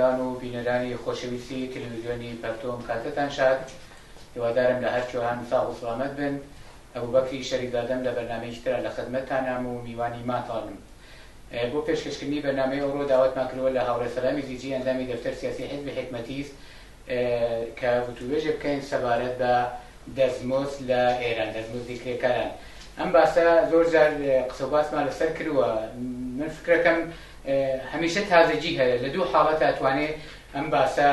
گوێگران و بینەرانی خۆشەویستی تەلەویزیۆنی پەرتۆم کاتەتان شاد هیوادارم لە هەرچۆهان ساغ و سڵامەت بن ئەبوبەکری شەریف لادەم لە بەرنامەیەکی ترا لە خدمەتتانام و میوانی ماتانم. بۆ پێشکەشکردنی بەرنامەی ئەوڕۆ داواتمان کردووە لە هاوڕێ سەلامی زیجی ئەندامی دەفتەر سیاسی حزبی حیکمەتیس کە وتووێژێ بکەین سەبارەت بە دەستمۆست لە ئێران، دەستمۆستی کرێکاران. ئەم باسە زۆر جار قسە و باسمان لەسەر کردووە. من فکرەکەم هەمیشە تازەگی هەیە. لە دوو حاڵەت ئەتوانێ ئەم باسە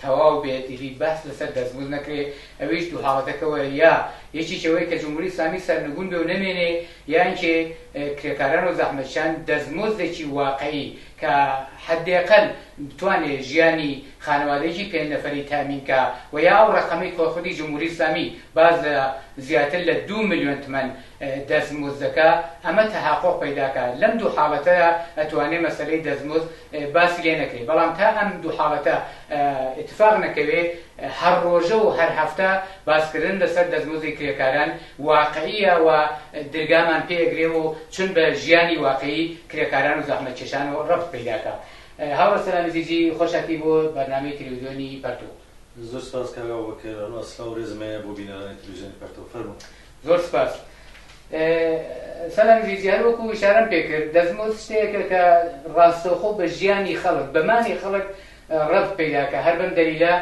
تەواو بێت ئیدی بەس لەسەر دەستمزد نەکرێ ئەویش دوو حاڵەتەکە وەرە یا یەکیکی ئەوەی کە جمهوری ئیسلامی سەرنگون بێ و نەمێنێ یانکێ کرێکاران و زەحمەتکێشان دەستمزدێکی واقعی کە حەدێقەل بتوانێ ژیانی خانەوادەیەکی پێنج نەفەری تامین کا و یا ئەو ڕەقەمەی کە خودی جمهوری ئیسلامی باس لە زیاتر لە دوو ملیۆن تمەن دەستمزدەکە ئەمە تەحەقوق پەیداکا لەم دوو حاڵەتەدا ئەتوانێ مەسەلەی دەستمزد باسی لێ نەکرێ بەڵام تا ئەم دوو حاڵەتە ئیتفاق نەکەوێ هەر ڕۆژە و هەر هەفتە باسکردن لەسەر دەستمزدی کرێکاران واقعیە و درگامان پێ ئەگرێ و چون بە ژیانی واقعی کرێکاران و زەحمەتکێشان و ڕەبت پەیداکا هاوڕێ سەلام ئەزیزی خۆشاکی بۆ بەرنامەی تەلەویزیۆنی پەرتووق. زۆر سپاس کاک ئەبوبەکر، ئەسڵا و رێزم هەیە بۆ بینەرانی تەلەویزیۆنی پەرتووق. فەرموون. زۆر سپاس سەلام ژیجی هەر وەکو شارم پێکرد دەزمۆت شتێکە کە ڕاستەوخۆ بە ژیانی خەڵک بەمانی خەڵک ڕەب پیداکە هەر بەم دەلیلا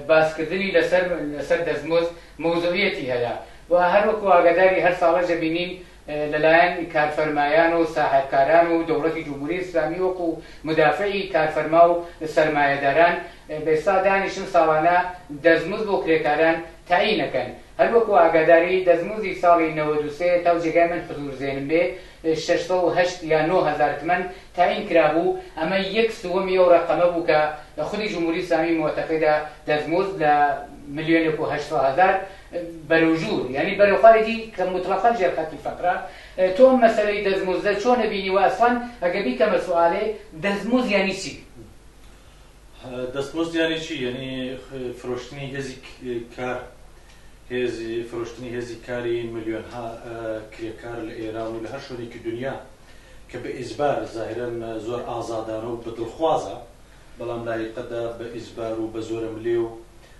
باسکردنی لەسەر لەسەر دەزمۆز مەوزوعەتی هەیە و هەر وەکو ئاگاداری هەر ساڵە جەبینین لەلایەن کارفەرمایان و ساحبکاران و دەوڵەتی جمهوری ئسلامی وەکو مدافعی کارفەرما و سەرمایەداران بێستا دانیشن ساڵانە دەزمز بۆ کرێکاران تەعینەکەن هەر وەکو ئاگاداری دەستموزی ساڵی نەوەد و سێ تاو جێگای من حزور زێنم بێ شەش سەد و هەشت یا نۆ هەزار تمەن تایین کرابوو ئەمە یەک سووەمی ئەو رەقەمە بوو کە خودی جمهوری اسلامی معتقدە دەستموز لە ملیۆنێک و هەشت سەد هەزار بەرەو ژوور یانی بەرەو خوارێکی کە موتڵەقەن ژێر خەتی فەقرە تۆ ئەم مەسەلەی دەستموزە چۆنە بینیوە ئەسڵەن ئەگە بیکەمە سوالێ دەستموز یانی چی؟ دەستمۆست یانی چی یانی فرۆشتنی هێزی کار هێزی فرۆشتنی هێزی کاری ملیۆنها کرێکار لە ئێران و لە هەر شوێنێکی دنیا کە بە ئیزبار زاهرن زۆر ئازادانە و بە دڵخوازە بەڵام لایقەدا بە ئیزبار و بە زۆرە ملێ و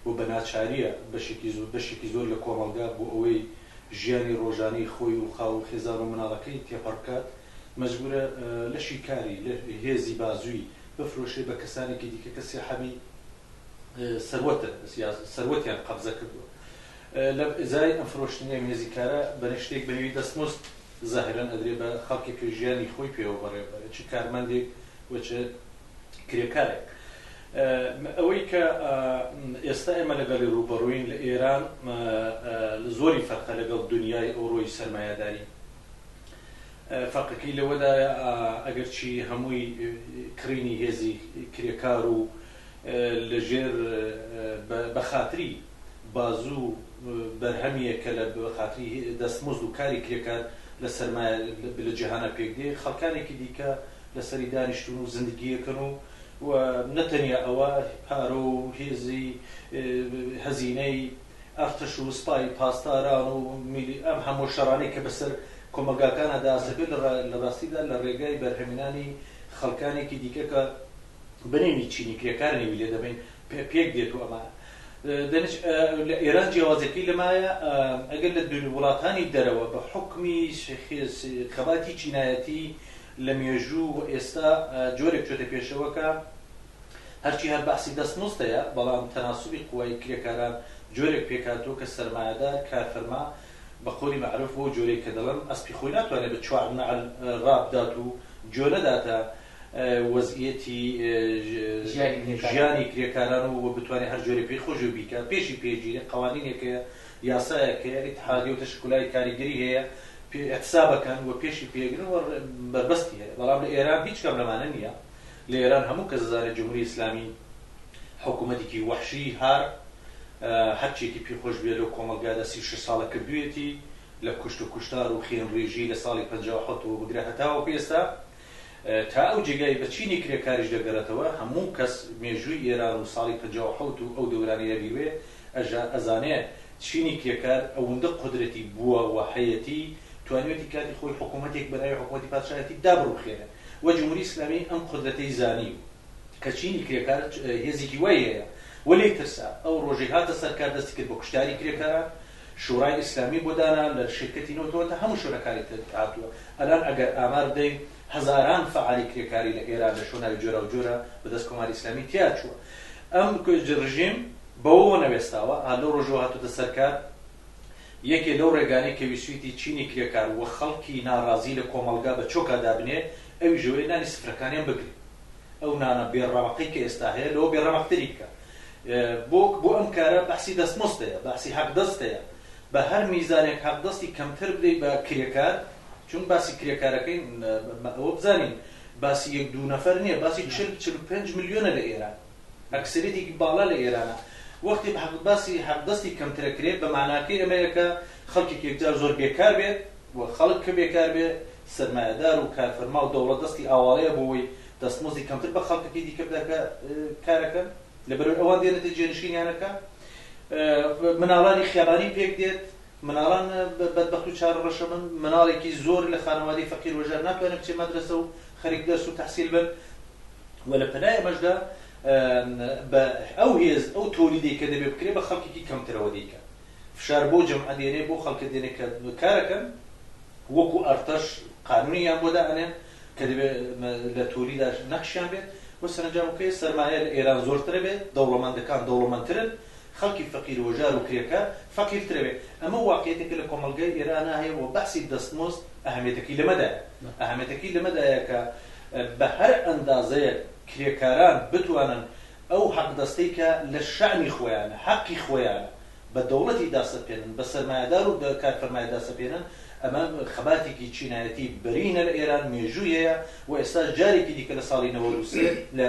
و بە ناچاریە بەشێکی زۆر بەشێکی زۆر لە کۆمەڵگا بۆ ئەوەی ژیانی ڕۆژانەی خۆی و خاو و خێزان و مناڵەکەی تێپەڕ بکات مەجبورە لەشی کاری لە هێزی بازووی بفرۆشێ بە کەسانێکی دیکە کە سیحابی سەروەتن یا سەروەتیان قەبزە کردووە لە ئزای ئەم فرۆشتنی ئەمێزیکارە بەرە شتێک بەنێوی دەستمۆست زەهرەن ئەدرێ بە خەڵکێک کە ژیانی خۆی پێوە بەڕێ بەرە چ کارمەندێک و چ کرێکارێک ئەوەی کە ئێستا ئێمە لەگەڵی ڕوبەڕوین لە ئێران زۆری فەرقە لەگەڵ دنیای ئەوڕۆی سەرمایهداری فەرقەکەی لەوەدایە ئەگەرچی هەمووی کڕینی هێزی کرێکار و لەژێر بەخاتری بازو و بەرهەمیە کە لە بەخاتری دەستمزد و کاری کرێکار لە سەرمایە لە جیهانا پێک دێ خەڵکانێکی دیکە لەسەری دانیشتون و زندگیەکەن و نەتەنیا ئەوە پارە و هێزی هەزینەی ئەرتەش و سپای پاسداران و میلی ئەم هەموو شەڕانەی کە بەسەر کۆمەڵگاکانا دەاسەپێ لە راستیدا لە رێگای بەرهەمێنانی خەڵکانێکی دیکە کە بنینی چینی کرێکار نێوی لێ دەبەین پێک دێت و ئەمانە دەنج لە ئێران جیاوازەکەی لەمایە ئەگەر لە دوور وڵاتانی دەرەوە بە حکمی خەباتی چینایەتی لە مێژوو و ئێستا جۆرێک چۆتە پێشەوەکە هەرچی هەر بەحسی دەست مزدەیە، بەڵام تەناسوبی قوای کرێکاران جۆرێک پێکهاتووە کە سەرمایەدار، کارفەرما، بە قەولی مەعروف بەو جۆرەی کە دەڵێن ئەسپی خۆی ناتوانێت بە چوار نەعل ڕابدات و گوێ نەداتە وەزعیەتی ژیانی کرێکاران و بتوانێت هەر جۆرێک پێی خۆش بێ بیکات، پێشی پێ گیرێ، قەوانینێک هەیە، یاسایەک هەیە، ئیتحادیە و تەشکولای کاریگەری هەیە پێ ئیحتساب ئەکەن و پێشی پێ ئەگرن و بەربەستی هەیە، بەڵام لە ئێران هیچ کام لەمانە نییە، لە ئێران هەموو کەس ئەزانێ جمهوری ئیسلامی حکوومەتێکی وەحشی هار هەر چیەکی پێ خۆش بوێ لەو کۆمەڵگادا سی و شەش ساڵە کردوویەتی لە کوشت و کوشتار و خێن ڕێژی لە ساڵی پەنجا و حەوت وە بگرە هەتاوەکو ئێستا تا ئەو جێگای بە چینی کرێکاریش دەگەرێتەوە هەموو کەس مێژووی ئێران و ساڵی پەنجا و حەوت و ئەو دەورانەیە بیروێ ئەژا ئەزانێ چینی کرێکار ئەوندە قودرەتی بووە و هەیەتی توانیوێتی کاتی خۆی حکوومەتێک بە ناوی حکوومەتی پادشایەتی دابڕووخێنێ و جمهوری ئیسلامی ئەم قودرەتەی زانی و کە چینی کرێکار هێزێکی وای هەیە و لێی ترسا، ئەو ڕۆژەی هاتە سەر کار دەستی کرد بە کوشتاری کرێکاران، شورای ئیسلامی بۆ دانا لە شیرکەتی نەوتەوە تا هەموو شوێنەکانی تر هاتووە، ئەلان ئەگەر ئامار بدەین هەزاران فەعالی کرێکاری لە ئێران لە شوناوی جۆراوجۆرا بە دەست کۆماری ئیسلامی تیا چووە. ئەم ڕژیم بەوەوە نەوێستاوە، لەو ڕۆژەوە هاتووتە سەر کار، یەکێ لەو ڕێگانەی کە ویسویتی چینی کرێکار و خەڵکی ناڕازی لە کۆمەڵگا بە چۆکا دابنێ ئەویش ئەوەیە نانی سفرەکانیان بگرێ ئەو نانە بێ ڕەمەقەی کە ئێستا هەیە لەوە بێ ڕەمەقتری بکا بۆ بۆ ئەم کارە بەحسی دەستمۆستەیە بەحسی حەقدەستەیە بە هەر میزانێک حەقدەستی کەمتر بدەی بە کرێکار چون باسی کرێکارەکەین ئەوە بزانین باسی یەک دوو نەفەر نییە باسی چل چل و پێنج ملیۆنە لە ئێران ئەکسەریەتێکی باڵا لە ئێرانە. وەختی بە باسی حەقدەستی کەمتر ئەکرێت بە مەعناکەی ئەمەیە کە خەڵکێک یەکجار زۆر بێکار بێت و خەڵک کە بێکار بێت سەرمایەدار و کارفەرما و دەوڵەت دەستی ئاواڵەیە بۆ وەی دەستمۆزدی کەمتر بە خەڵکەکەی دیکە بدا کە کار ئەکەن لەبەرەوەی ئەوان دێنێتە جێنشینیانەکە مناڵانی خیابانی پێک دێت مناڵان بەدبەخت و چار ڕەشە بن، مناڵێکی زۆر لە خانەوادەی فەقیر وەژار ناتوانێت بچێت مەدرەسە و خەریک دەرس و تەحسیل بن و لە پەنای ئەمەشدا بە ئەو هێز ئەو تۆلیدەی کە دەبێت بکرێت بە خەڵکێکی کەمترەوە دەیکات فشار بۆ جەمعە دێنێ بۆ خەڵکە دێنێ کە کارەکەن وەکو ئەرتەش قانونیان بۆ دائەنێن کە دەبێت لە تۆلیدا نەخشیان بێت و سەرنجامەکەی سەرمایە لە ئێران زۆرترە بێت دەوڵەمەندەکان دەوڵەمەندترن خەڵکی فەقیر وهوژار و کرێکار فەقیرترە بێ ئەمە واقعیەتێکە لە کۆمەڵگای ئێرانا هەیە و بەحسی دەستمۆست ئەهەمێتەکەی لەمەدایە ئەهەمێتەکەی لەمەدایە کە بە هەر ئەندازەیەک کرێکاران بتوانن ئەو حەقدەستەی کە لە شەئنی خۆیانە حەقی خۆیانە بە دەوڵەتی داسەپێنن بە سەرمایەدار و کارفەرمای داسەپێنن ئەمە خەباتێکی چینایەتی بەرینە لە ئێران مێژووی هەیە و ئێستاش جارێکی دیکە لە ساڵی نەوەد و سێ لە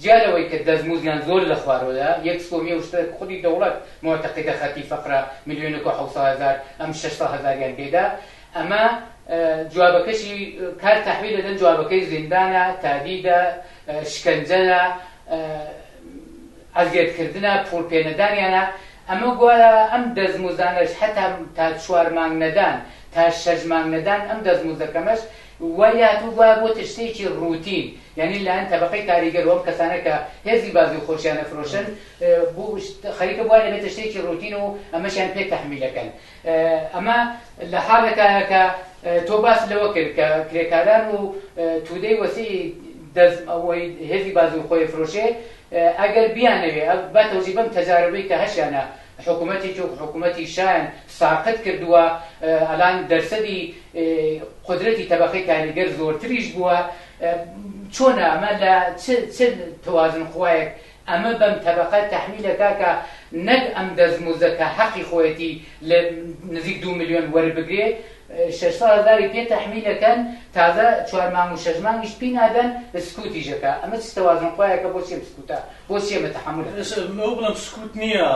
جیا لەوەی کە دەستموزدیان زۆر لە خوارۆیە، یەک سووەمی ئەو شتە کە خودی دەوڵەت موعتەقیدە خەتی فەقرە ملیۆنێک و حەوت سەد هەزار ئەم شەش سەد هەزاریان پێدا، ئەمە جوابەکەشی کار تەحویل دەدەن، جوابەکەی زیندانە، تادیدە، شکەنجەیە، ئەزیەتکردنە، پووڵ پێنەدانیانە، ئەمە گوایە ئەم دەستموزدانەش هەتا تا چوار مانگ نەدان، تا شەش مانگ نەدان، ئەم دەستموزدە کەمەش وەریات و گوایە بۆتە شتێکی ڕووتین، یانی لەلایەن تەبەقەی کاریگەر و ئەم کەسانە کە هێزی بازی و خۆشیانەفرۆشن بو خەریکە بوار دەبێتە شتێکی ڕووتین و ئەمەشیان پێ تەحمیل دەکەن. ئەمە لە حاڵێکایە کە تۆ باست لەوە کرد کە کرێکاران و تودەی وەسیعی دەست ئەوەی هێزی بازی و خۆێفرۆشێ ئەگەر بیانەوێ با تەوژی بەم تەجاربەی کە هەشیانە حکومەتی تورک حکومەتی شایان ساقت کردووە، ئەلان دەرسەدی قودرەتی تەبەقەی کاریگەر زۆرتریش بووە، چۆنە ئەمە لە چ چ توازن خوایەک ئەمە بەم تەبەقە تەحمیل ئەکا کە نەک ئەم دەستموزە کە حەقی خۆیەتی لە نزیک دوو ملیۆن وەربگرێ، شەش ساڵ هەزاری پێ تەحمیل ئەکەن تازە چوار مانگ و شەش مانگیشت پی نادەن سکوتیش ئەکا ئەمە چ تەوازن خوایەکە بۆچی ئەم سکوتە بۆچی ئەمە تەحەمول ئەکەن. ئێستا ئەوە بڵێم سکوت نییە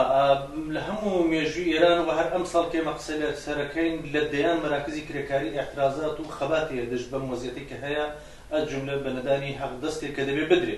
لە هەموو مێژووی ئێران و هەر ئەمساڵ کە ئێمە قسە لەسەر ئەکەین لە دەیان مەراکزی کرێکاری ئێعترازات و خەبات هەیە دژ بەم وەزیەتەی کە هەیە ئەلجوملە بە نەدانی هەق دەستێک کە دەبێ بدرێ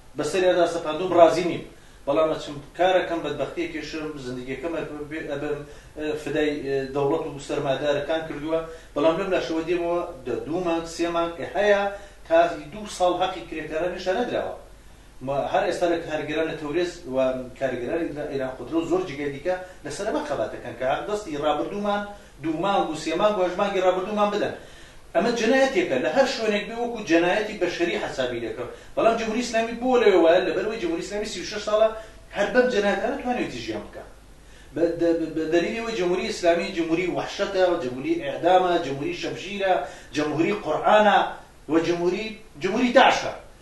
بەسەریادا سەپاندوم ڕازی نیم بەڵام ئەچم کارەکەم بەدبەختی ئەکێشم زندگیەکەم ئەبەم فدای دەوڵەت و سەرمادارەکان کردووە بەڵام لەم لاشەوە دێمەوە دە دوو مانگ سێ مانگ هەیە تا دوو ساڵ هەقی کرێکاران نیشان نەدراوە هەر ئێستا لە کارگەران لە تەورێز و کارگەرانی ئێران قدرە و زۆر جگەی دیکە لەسەر ئەمە خەباتەکەن کە هەق دەستی ڕابردوومان دوو مانگ و سێ مانگ و هەشت مانگی ڕابردوومان بدەن. ئەمە جەنایەتێکە، لە هەر شوێنێک بێ وەکو جەنایەتی بەشەری حەسابی دەکرا. بەڵام جمهوری ئیسلامی بۆ لەوێ وایە؟ لەبەرئەوەی جمهوری ئیسلامی سی و شەش ساڵە هەر بەم جەنایەتانە توانیوێتی ژیان بکا. بە دەلیلی ئەوەی جمهوری ئیسلامی جمهوری وەحشەتە، جمهوری ئێعدامە، جمهوری شەمشیرە، جمهوری قورئانە و جمهوری جمهوری داعشە.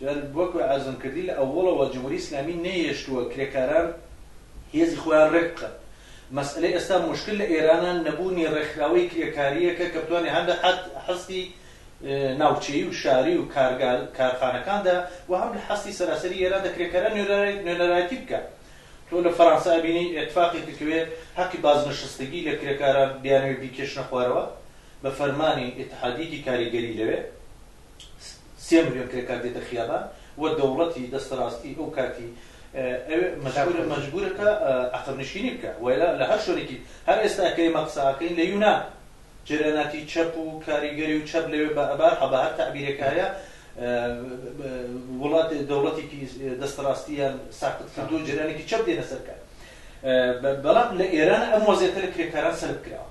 جا وەکو عەرزم کردی لە ئەوەڵەوە جمهوری ئیسلامی نەیهێشتووە کرێکاران هێزی خۆیان ڕێک بخەن. مەسئەلەی ئێستا موشکل لە ئێرانا نەبوونی ڕێکخراوەی کرێکارییەکە کە بتوانێ هەم لە هەستی ناوچەیی و شاری و کارگا کارخانەکاندا و هەم لە هەستی سەراسەری ئێراندا کرێکاران نوێنەرایەتی بکا. تۆ لە فەرانسە ئەبینی ئێتفاقێک دەکەوێ هەقی بازنشستگی لە کرێکاران بیانەوێ بیکێشنە خوارەوە بە فەرمانی ئیتحادییەکی کاریگەری لەوێ. سێ ملیۆن کرێکار دێتە خیابان و دەوڵەتی دەستەڕاستی ئەو کاتی ئەوێ مەجبورە مەجبورە کە عەقب نشینی بکە وەیلا لە هەر شوێنێکی هەر ئێستا کە ئێمە قسە ئەکەین لە یونان جەرەناتی چەپ و کاریگەری و چەپ لەوێ بە ئەبار حەبە هەر تەعبیرێک هەیە وڵات دەوڵەتێکی دەستەڕاستیان ساقت کردو جەرانێکی چەپ دێنە سەرکار بەڵام لە ئێران ئەم وەزێتە لە کرێکاران سەلب کراوە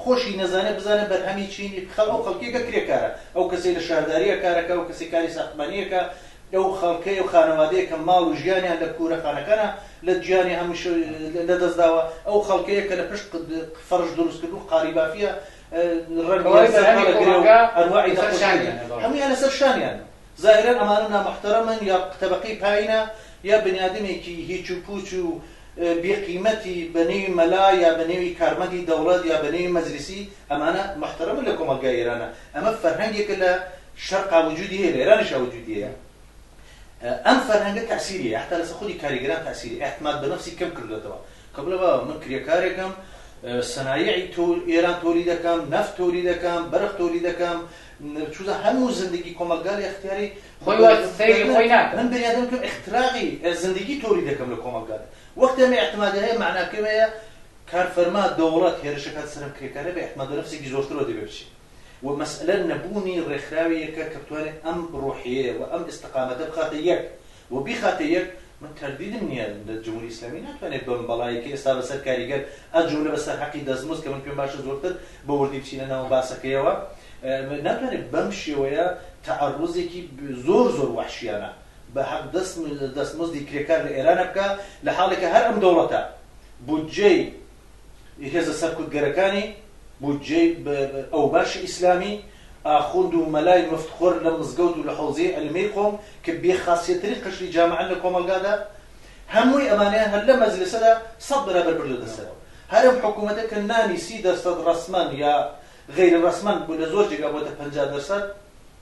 خۆشی نەزانێ بزانێ بەرهەمی چینی خە ئەو خەڵکێکە کرێکارە ئەو کەسەی لە شارداریە کارەکە ئەو کەسەی کاری ساختمانیەکە ئەو خەڵکەی ئەو خانەوادەیە کە ماڵ و ژیانیان لە کوورە خانەکانە لە جیانی هەمووش لە دەست داوە ئەو خەڵکەیە کە لە پشت قد فەڕش دروست کردوو قالی بافیە ڕەنگی سەر هەڵەگرێ و ئەنواعی نەخۆشی هەموویان لەسەر شانیانە. زاهیرەن ئەمانە نامەحتەرەمن یا تەبەقەی پایینە یا بنیادمێکی هیچ و پووچ و بێ قیمەتی بە نێوی مەلا یا بە نێوی کارمەندی دەوڵەت یا بە نێوی مەجلیسی ئەمانە مەحتەرەمن لە کۆمەڵگای ئێرانە ئەمە فەرهەنگێکە لە شەرقا وجودی هەیە لە ئێرانیشا وجودی هەیە ئەم فەرهەنگە تەئسیری هەیە حەتا لەسەر خودی کاریگەران تەئسیری ئیعتماد بە نەفسی کەم کردۆتەوە کە بڵێ بابا من کرێکارێکم سەنایعی تۆ ئێران تۆلی دەکەم نەفت تۆلی دەکەم بەرق تۆلی دەکەم چونە هەموو زندگی کۆمەڵگا لە ئیختیاری خۆی وایە، سەیری خۆی ناکا. من بنیادم کەم ئیختراقی زندگی تۆری دەکەم لە کۆمەڵگادا. وەختی ئەمە ئیعتمادی هەیە، مەعناکەی ئەوەیە کار فەرما، دەوڵەت، هێرشە کات سەرم کرێکارە بێ ئیعتمادو نەفسێکی زۆرترەوە دەبێ بچێ و مەسئەلە نەبوونی ڕێکخراوێیەکە کە بتوانێ ئەم ڕوحیەیە و ئەم ئیستقامەتە بخاتە یەک. و بیخاتە یەک، من تەردیدم نییە لە جمهوری ئیسلامی ناتوانێت بەم بەڵایەی کە ئێستا بەسەر کاریگەر ئە جوملە بەسەر حەقی دەستمزد کە من پێم باشە زۆرتر بە وردی بچینە ناو باسەکەیەوە ناتوانێت بەم شێوەیە تەعەڕوزێکی زۆر زۆر وەحشیانە بە حەق دەست دەستمزدی کرێکار لە ئێرانە بکا لە حاڵێکە هەر ئەم دەوڵەتە بودجەی ی هێزە سەرکوتگەرەکانی، بودجەی ئەوباشی ئیسلامی، ئاخوند و مەلای مفت خۆر لە مزگەوت و لە حەوزەی عیلمیی قوم کە بێ خاسیەتترین قشری جامعەن لە کۆمەڵگادا، هەمووی ئەمانەیان هەر لەم مەجلسەدا سەد بەرابەر بردۆتە سەر هەر ئەم حکوومەتە کە نانی سی دەرسەد ڕەسمەن یا غەیرە ڕەسمەن بۆ لە زۆر جێگا بۆتە پەنجا دەرسەد،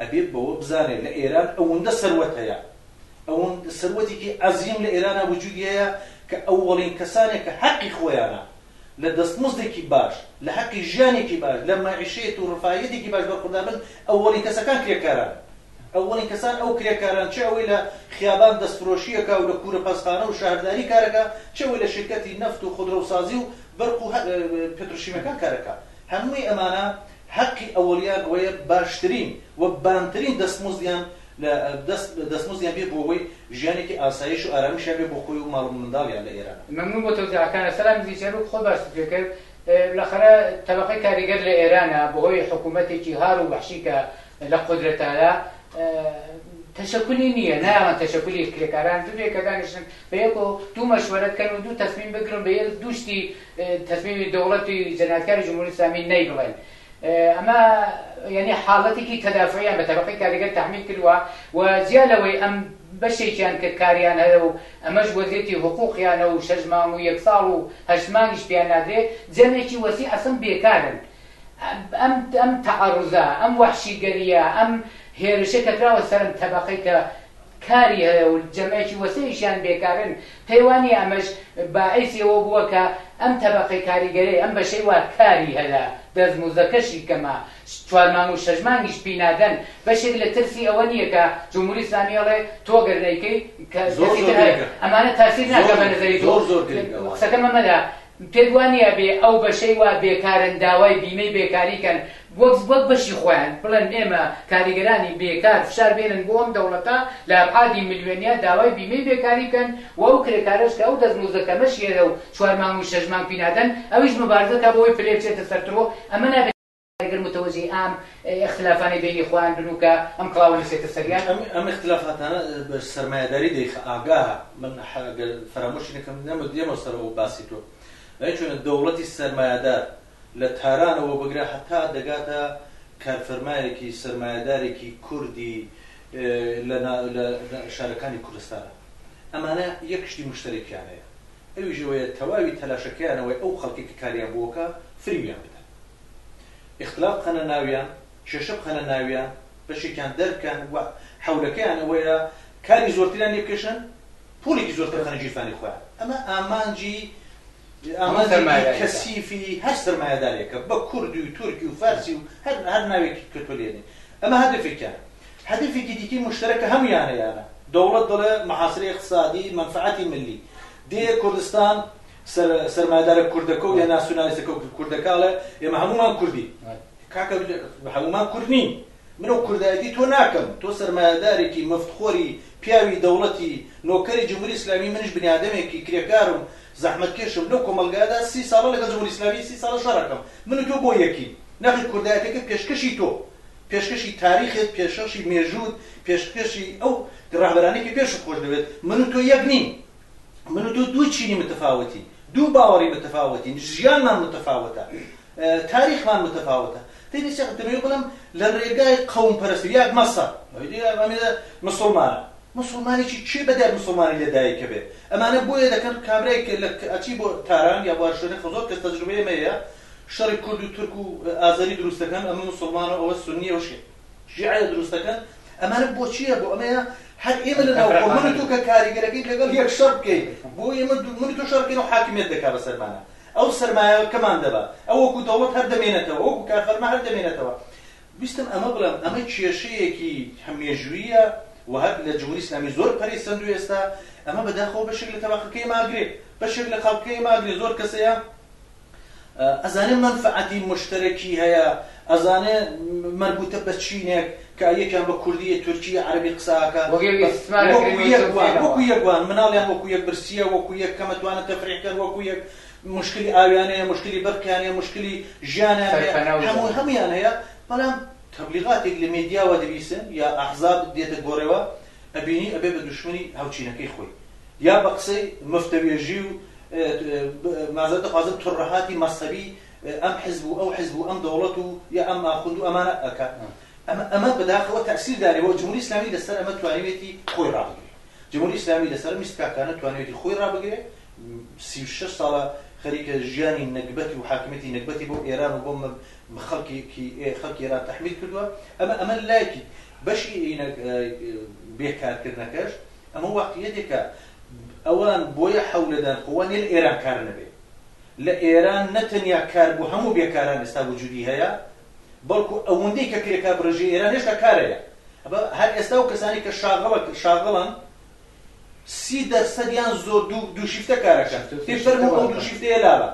ئەبێت بەوە بزانێت لە ئێران ئەوندە سەروەت هەیە، ئەوند سەروەتێکی عەزیم لە ئێرانا وجودی هەیە کە ئەوەڵین کەسانێک کە حەقی خۆیانە لە دەستمزدێکی باش، لە حەقی ژیانێکی باش، لە مەعیشەیەت و رفاهیەتێکی باش بەرخوردار بن، ئەوەڵین کەسەکان کرێکاران. ئەوەڵین کەسان ئەو کرێکاران چ ئەوەی لە خیابان دەستفرۆشی ئەکا و لە کورەپەستخانە و شەهرداری کار ئەکا، چ ئەوەی لە شیرکەتی نەفت و خودرەوسازی و بەرق و پتروشیمەکان کار ئەکا. هەمووی ئەمانە هەقی ئەوەڵیان ئەوەیە باشترین و بانترین دەستمزدیان لە دەست دەستمزدیان بێ بۆ ئەوەی ژیانێکی ئاسایش و ئارامیشیان بێ بۆ خۆی و ماڵ و منداڵیان لە ئێران. مەمنون بۆ تەوزیعەکانت. سەلام دزی چەروک خۆت باست پێ کرد. بلاخەرە تەبەقەی کاریگەر لە ئێرانە بەهۆی حکوومەتێکی هار و وەحشی کە لە قودرەتادا تەشەکولی نییە، نایەڵن تەشەکولی کرێکاران ببێ کە دانیشن بە یەک و دوو مەشوەرە بکەن و دوو تەسمیم بگرن بە یەک دوو شتی تەسمیمی دەوڵەتی جەنایەتکاری جمهوری ئیسلامی نەیبڵێن. ئەمە یعنی حاڵەتێکی تەدافعیان بە تەبەقەی کاریگەر تەحمیل کردووە و جیا لەوەی ئەم بەشێکیان کە کاریان هەیە و ئەمەش وەزیەتی حقوقیانە و شەش مانگ و یەک ساڵ و هەشت مانگیش پێیان نادرێ جەمێکی وەسی ئەسڵن بێکارن ئەم تەعەڕوزە، ئەم وەحشیگەرییە، ئەم هێرشە کە کراوە سەر ئەم تەبەقەی کە کاری هەیە و جەمەکی وەسێیشیان بێکارن، پێی وا نییە ئەمەش باعیسی ئەوە بووە کە ئەم تەبەقەی کاریگەرەی ئەم بەشەی وا کاری هەیە، دەستموزەکەشی کەمە، چوار مانگ و شەش مانگیش پی نادەن، بەشێک لە ترسی ئەوە نییە کە جمهوری ئیسلامی ئەڵێ تۆ گەر نەیکەی کەسی تر هەیە، ئەمانە تاسیر ناکا بە نەزەری تۆ؟ قسەکەم ئەمەدا پێت وانیە بێ ئەو بەشەی وا بێکارن داوای بیمەی بێکاری کەن وەک وەک بەشی خۆیان بڵێن ئێمە کاریگەرانی بێکار فشار بێنن بۆ ئەم دەوڵەتە لە ئەبعادی ملیۆنیا داوای بیمەی بێکاری بکەن و ئەو کرێکارەش کە ئەو دەستمۆزدە کەمەش هێلە و چوار مانگ و شەش مانگ پینادەن ئەویش مبارزە کا بۆ ئەوەی پلەی بچێتە سەر ترۆ ئەمە ئەگەر متوەجهی ئام ئیختلافانەی بەینی خۆیان بن و کە ئەم کڵاوە نوسێتە سەریان. ئەم ئەم ئیختلافاتانە بە سەرمایەداری دەیخە ئاگاهە من حە گەر فەرامۆشی نەکەم نەمە دێمەوە سەرەوە باسی تۆ ئەی چۆنە دەوڵەتی سەرمایەدار لە تارانەوە بگرە هەتا دەگاتە کارفەرمایەکی سەرمایەدارێکی کوردی لە نا لە لە شارەکانی کوردستانا ئەمانە یەک شتی مشتەرەکیان هەیە ئەویش ئەوەیە تەواوی تەلاشەکەیانەوەی ئەو خەڵکەی کە کاریان بۆ بکا فریویان بدەن. ئیختلاف بخەنە ناویان، کێشە بخەنە ناویان، بەشێکیان دەربکەن و حەولەکەیان ئەوەیە کاری زۆرتریان لێ بکێشن، پوڵێکی زۆرتر بخەنە گیرفانی خۆیان. ئەمە ئامانجی ئامانجی سەرمایەداری کەسیفی هەر سەرمایەدارێکە، بە کوردی و تورکی و فارسی و هەر هەر ناوێکی کە تۆ لێنێ. ئەمە هەدەفێکیانە. هەدەفێکی دیکەی موشتەرەک کە هەموویانەیانە، دەوڵەت دەڵێ محاصرە اقتصادی منفعتی ملی، دێ کوردستان، سەر سەرمایەدارە کوردەکەو یا ناسیونالیستەکەو کوردەکە ئەڵێ ئێمە هەموومان کوردین کاکە هەموومان کورد نین من ئەو کوردایەتی تۆ ناکەم تۆ سەرمایەدارێکی مفتخۆری پیاوی دەوڵەتی نۆکەری جمهوری ئیسلامی منیش بنیادەمێکی کرێکارم زەحمەتکێشم لەو کۆمەلگادا سی ساڵە لەگەڵ جمهوری ئیسلامی سی ساڵە شەڕەکەم من و تۆ بۆ یەکی نەخی کوردایەتەکە پێشکەشی تۆ پێشکەشی تاریخێت پێشەشی مێژووت پێشکەشی ئەو ڕاهبەرانێکی پێش خۆش دەوێت من و تۆ یەک نین من و تۆ دوو چینی متفاوتین دوو باوەڕی متفاوتین ژیانمان متفاوتە تاریخمان متفاوتە دەبێت شێخ دەمەوێت بڵم لە ڕێگای قەوم پەرستی یاک مەسە مسلمانە مسلمانێکی چی بەدەر مسلمانی لە دایکە بێت ئەمانە بۆیە دەکەن کابرای ئەچی بۆ تاران یا بۆ شوێنە خزۆر کەس تەجروبەیە مەیە شەڕی کورد و تورک و ئازەری دروستەکەن ئەمە مسلمانە ئەوە سنیە وشێ شیعە دروست دەکەن ئەمانە بۆچیە بۆ ئەمەیە هەر ئێمە لە ناو خۆ من و تۆ کە کاریگەرەکەی لەگەڵ یەک شەڕ بکەین بۆ ئێمە دو- من و تۆ شەڕ بکەین و حاکمیت دەکا بە سەرمانە ئەو سەرمایەکەمان دەبا ئەو وەکو دەوڵەت هەر دەمێنێتەوە وەکو کارفەرما هەر دەمێنێتەوە ویستم ئەمە بڵێم ئەمە کێشەیەکی هە- مێژوویە و هەر لە جمهوری ئیسلامی زۆر پەرەی سەندوو ئێستا ئەمە بەداخەوە بەشێک لە تەبەقەکەی ماگرێ بەشێک لە خەڵکەکەی ماگرێ زۆر کەسەیە ئەزانێ مەنفەعەتی موشتەرەکی هەیە، ئەزانێ مەربووتە بە چینێک کە یەکیان بە کوردی، تورکی، عەرەبی قسە ئەکا. وەکوو یەک وان، وەکوو یەک وان، مناڵیان وەکوو یەک برسییە، وەکوو یەک کەمە توانە تەفریح کەن، وەکوو یەک موشکلی ئاویان هەیە، موشکلی بەرقیان هەیە، موشکلی ژیانیان هەیە، هەموو هەموویان هەیە، بەڵام تەبلیغاتێک لە مێدیاوە دەبیسن یا ئەحزاب دێتە گۆرێوە ئەبینی ئەبێ بە دوشمنی هاوچینەکەی خۆی. یا بە قسەی مفتەوێژی و مازەرت دەخوازم تڕەهاتی مەزهەبی ئەم حزب و ئەو حزب و ئەم دەوڵەت و یا ئەم ئاخوند و ئەمانە ئەکا ئەمە ئەمە بەداخەوە تەسیر داری بۆ جمهوری ئیسلامی لەسەر ئەمە توانیوێتی خۆی ڕابگرێ جمهوری ئیسلامی لەسەر میست کاکانە توانیوێتی خۆی ڕابگرێ سی و شەش ساڵە خەریکە ژیانی نەگبەتی و حاکمێتی نەگبەتی بۆ ئێران و بۆ خەڵکی خەڵکی ئێران تحمیل کردووە ئەمە ئەمە لایکی بەشی بێکارکردنەکەش ئەمە واقیعیەتێکە ئەوان بۆیە حەولەدان خۆ وا نیە لە ئێران کار نەبێ لە ئێران نە تەنیا کار بۆ هەموو بێکاران ئێستا وجودی هەیە بەڵکو ئەوەندەی کە کرێکار بڕێژی ئێران هێشتا کارەیە ئەبە هەر ئێستا و کەسانی کە شاغڵە شاغڵن سی دەرسەدیان زۆر دوو دوو شیفتە کارەکەن پێ فەرمو ئەو دوو شیفتەیە لابە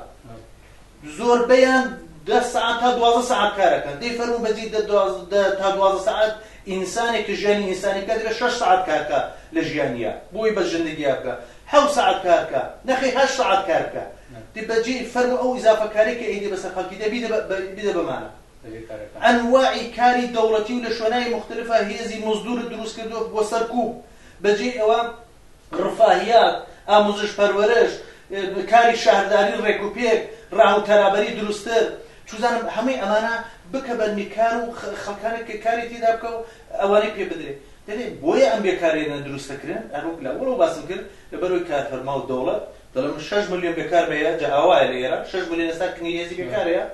زۆربەیان دە سەعات تا دوازدە سەعات کار ئەکەن، دەی فەرموو بەجی دە دە تا دوازدە سەعات ئینسانێک کە ژیانی ئینسانی بکا دەبێ شەش سەعات کار کا لە ژیانیا بۆی بەس ژندگیا بکا حەوت سەعات کار کا نەخیر هەشت سەعات کار بکا دی بەجی فەرموو ئەو ئیزافە کارەی کە ئەیدێ بەسەر خەڵکی دە بیدە بە بیدە بە مانا ئەنواعی کاری دەوڵەتی و لە شوێنای موختەلفا هێزی مزدوورت دروست کردووە بۆ سەرکووب بەجێی ئەوە رفاهیات، ئاموزش پەروەرش، کاری شەهرداری رێکوپێک، راهو تەرابەری دروستر، چوزانم هەموی ئەمانە بکە بە نکار و خەلکانێک کە کاری تیدا بکە و ئەوانەی پێ بدرێ. دەلێ بۆیە ئەم بێکارێنە دروست دەکرێن هەر وەک لە وەڵەوە باسم کرد لە بەر هۆی کار فەرما و دەوڵەت دەڵێ من شەش ملیۆن بێکار مەیە جا ئاوایە لە ئێران شەش ملیۆن ئێستا کنی هێزی بێکارەیە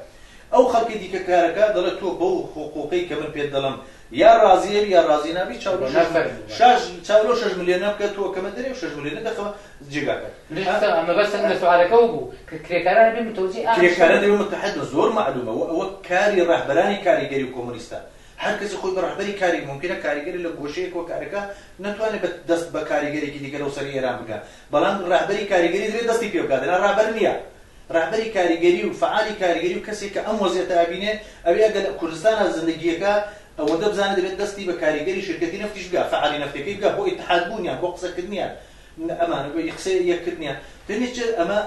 ئەو خەلکی دیکە کارەکە دەڵێ تۆ بەو حقوقەی کە من پێت دەڵێم یا ڕازی ئەبی یا ڕازی نابی چاولۆ شەش ملیۆن شەش چاولۆ شەش ملیۆنە بکە تۆ کەمە دەرێ و شەش ملیۆنە دەخەوە جێگاکە ئەمە بەس لە سوالەکەەوە بوو کە کرێکاران بێ متەوجی کرێکاران دەبێ متحد زۆر معلومە و ئەوە کاری ڕەهبەرانی کاریگەری و کۆمونیستە هەر کەسی خۆی بە ڕەهبەری کاری ممکنە کاریگەری لە گۆشەیەک و کارەکە ناتوانێت بە دەست بە کاریگەرێکی دیگە لەو سەر ئێران بگە بەڵام ڕەهبەری کاریگەری دەبێت دەستی پێ بکات ڕابەر نییە ڕەهبەری کاریگەری و فەعالی کاریگەری و کەسێک کە ئەم وەزعیەتە ئەبینێ ئەوی ئەگەر لە کوردستانا زندگی ئەکا ئەوەندە بزانێ دەبێ دەستی بە کاریگەری شرکەتی نەفتیش بگا فەعالی نەفتەکەی بگا بۆ ئیتحاد بوونیان بۆ قسە کردنیان ئەمانە بۆ قسەی یەک کردنیان دەبێ چ ئەمە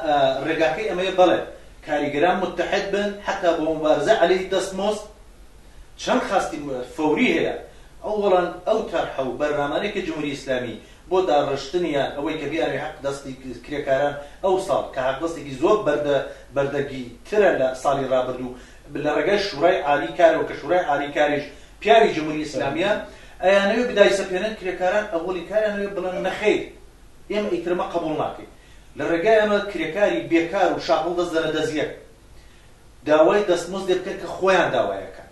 ڕێگاکەی ئەمەیە بەڵێ کاریگەران متحد بن حتا بۆ مبارزە عەلەی دەست مۆست چەند خاستی فەوری هەیە ئەوەڵەن ئەو تەرحە و بەرنامانەی کە جمهوری ئیسلامی بۆ داڕشتنی یان ئەوەی کە بیانەوێت حەق دەستی کرێکاران ئەو ساڵ کە حەق دەستێکی زۆر بەردە بەردەگی ترە لە ساڵی ڕابردوو لە ڕێگای شوڕای عالی کارەوە کە شوڕای عالی کاریش پیاوی جموری ئیسلامیە ئەیانەوێت بدایسەپێنن کرێکاران ئەوەی کاریانەوێت بڵێن نەخیر ئێمە ئیترمە قەبوڵ ناکەین لە ڕێگایەمە کرێکاری بێکار و شاپڵ دەست دەنە دەزیەک داوای دەستمزدێ بکەن کە خۆیان داوایەکەن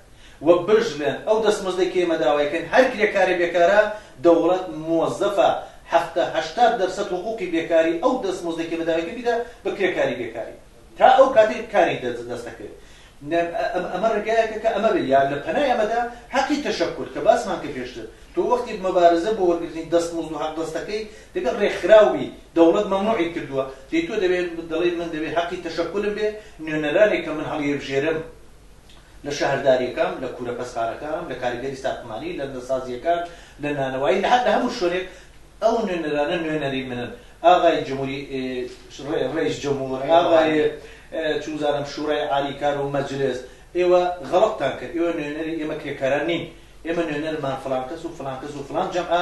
و بژمێن ئەو دەستمزدەی کە ئێمە داوایەکەین هەر کرێکارێ بێکارە دەوڵەت مۆزەفە حەفتا هەشتا دەرسەد حقوقی بێکاری ئەو دەستمزدەی کە ئێمە داوایەکەین بیدا بە کرێکاری بێکاری تا ئەو کاتەی کاری دەستەکەوێت ئەمە ڕێگایەکە کە ئەمە بێ یا لە پەنای ئەمەدا حەقی تەشەکر کە باسمان کە پێشتر تۆ وەختی مەبارزە بۆ وەرگرتنی دەستمزد و حەق دەستەکەی دەبێت ڕێکخراوی دەوڵەت مەمنوعی کردووە، دەی تۆ دەبێت دەڵێیت من دەبێت هەقی تەشەکولم بێت، نوێنەرانێک کە من هەڵیبژێرم لە شەهردارییەکان، لە کوورە پەستخانەکان، لە کاریگەری ساختمانی، لە نەسازییەکان، لە نانەوایی، لە لە هەموو شوێنێک ئەو نوێنەرانە نوێنەری منن، ئاغای جمهوری ڕەئیس جمهور، ئاغای چ بزانم شورای عالی کار و مەجلس، ئێوە غەڵەتتان کرد، ئێوە نوێنەری ئێمە کرێکاران نین، ئێمە نوێنەرمان فڵان کەس و فڵان کەس و فڵان جەمعە،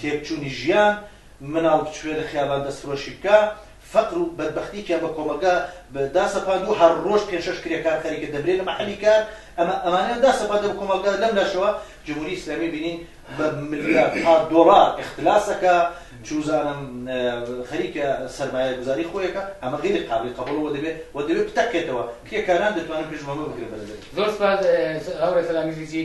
تێکچوونی ژیان، مناڵ بچووێ لە خیابان دەستفرۆشی بکا، فەقر و بەدبەختی کە بە کۆمەڵگا داسەپاندووە، هەر ڕۆژ پێنج شەش کرێکار خەریکە دەمرێ لە مەحەلی کار، ئەمە ئەمانەیان داسەپاندووە بە کۆمەڵگا، لەم لاشەوە جمهوری ئیسلامی بینین بە ملیارها دۆڵار ئیختلاس ئەکا، چوزانم خەریکە سەرمایە گوزاری خۆی ئەکا، ئەمە غەیری قابلی قەبوڵە وە دەبێ وە دەبێ بتەقێتەوە، کرێکاران دەتوانن پێش بەمە بگرن بەرەبەری. زۆر سوپاس هاوڕێ سەلام ئیزیزی